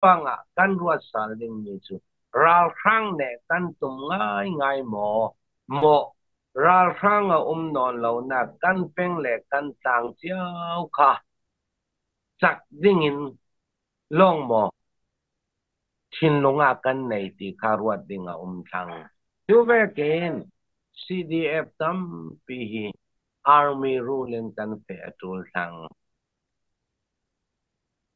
pang ah kan ruat sal dingmi cu ralhrang nih kan tum ngaingai maw maw ralhrang a um nawn lonak kan peng le kan tlang cio kha chak ding in long maw thinlung a kan nei ti kha ruat ding a um thang tu vekin CDF tampi hi army rule in kan pe a tul thang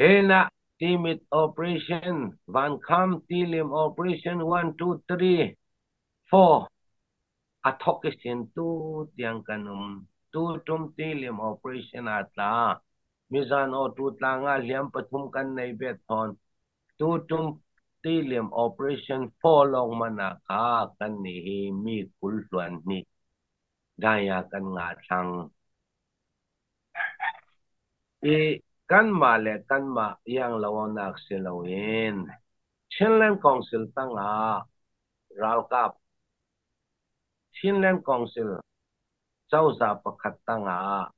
Enah Timit Operation, Vankham Tilim Operation one two three four a thawk i sentu tiang kan um. Tutum Tilim Operation ah tla. Mizan awtu tlang ah hliam pathum kan nei ve thawn. Tutum Tilim Operation four lawng mana ka kan ni hi mi kul hluan ni. Daya kan nga thang. I kanmah le kanmah ianglonak si loin Chinland Council tangah ralkap, Chinland Council cozah pakhat tangah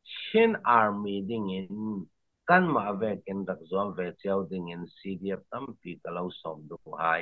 Chin Army dingin kanmah vek in rak zuam ve cio dingin CDF tampi ka lo sawm duh hai.